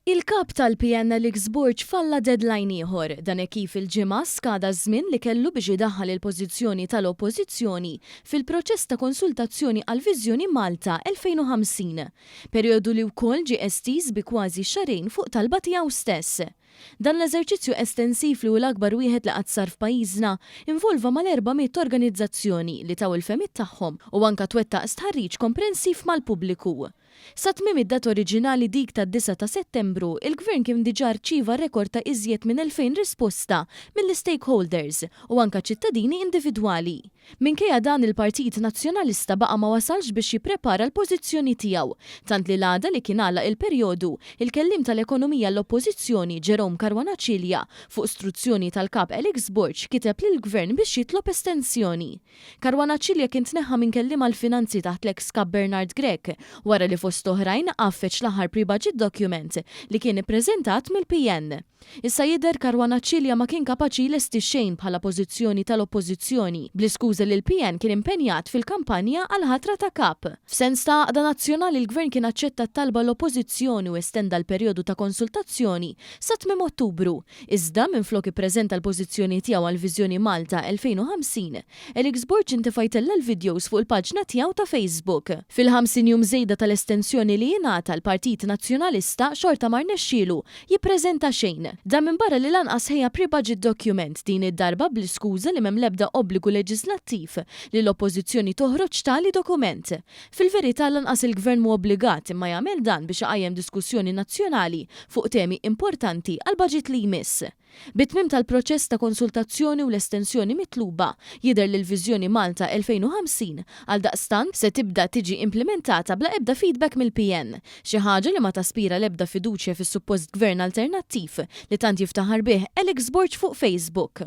Il-Kap tal-PNL Xburġ falla deadline ieħor, dan hekk kif il-Ġimgħa skada ż-żmien li kellu biex idaħħal il-pożizzjoni tal-Oppożizzjoni fil-proċess ta' konsultazzjoni għall-Viżjoni Malta 2050, perijodu li wkoll ġie estiż bi kważi xahrejn fuq talba tiegħu stess. Dan l-eżerċizzju estensiv li hu l-akbar wieħed li qatt sar f'pajjiżna involva mal-erba' mitt organizzazzjoni li taw il-fehmiet tagħhom u anke twettaq stħarriġ komprensiv mal-pubbliku. Sa tmiem id-data oriġinali dik tad-disgħa ta' Settembru, il-Gvern kien diġà rċieva rekord ta' iżjed minn 2,000 risposta mill-istakeholders u anke ċittadini individwali. Minkejja dan il-Partit Nazzjonalista baqa' ma wasalx biex jipprepara l-pożizzjoni tiegħu, tant li l-għada li kien għalaq il-perjodu, il-Kelliem tal-Ekonomija għall-Oppożizzjoni Jerome Caruana Cilia, fuq struzzjoni tal-Kap Alex Borg kiteb lill-Gvern biex jitlob estensjoni. Caruana Cilia kien tneħħa minn kelliem għall-finanzi taħt l-eks Kap Bernard Grech wara li fost oħrajn għaffeġ l-aħħar pre-budget document li kien ippreżentat mill-PN. Issa jidher Caruana Cilia ma kien kapaċi jlesti xejn bħala pożizzjoni tal-Oppożizzjoni bl-iskuża li l-PN kien impenjat fil-kampanja għall-ħatra ta' Kap. F'sens ta' għaqda nazzjonali l-Gvern kien aċċetta t-talba l-Oppożizzjoni u estenda l-perjodu ta' konsultazzjoni sa tmiem Ottubru Iżda, minflok ippreżenta l-pożizzjoni tiegħu għal Viżjoni Malta 2050, Eric Zborg intefa' jtella' l-vidjows fuq il-paġna tiegħu ta' Facebook. Fil-ħamsin jum żejda tal-estensjoni li ingħata l-Partit Nazzjonalista xorta ma rnexxielu jippreżenta xejn. Dan minbarra li lanqas ħejja pre-budget document, din id-darba bl-iskuża li m'hemm l-ebda obbligu leġiżlattiv li l-Oppożizzjoni toħroġ tali dokument. Fil-verità lanqas il-Gvern mhu obbligat imma jagħmel dan biex iqajjem diskussjoni nazzjonali fuq temi importanti għall-baġit li jmiss. Bit-tmiem tal-proċess ta' konsultazzjoni u l-estensjoni mitluba, jidher li l-Viżjoni Malta 2050, għaldaqstant, se tibda tiġi implimentata bla ebda feedback mill-PN, xi ħaġa li ma taspira l-ebda fiduċja fis-suppost Gvern alternattiv li tant jiftaħar bih Alex Borg fuq Facebook.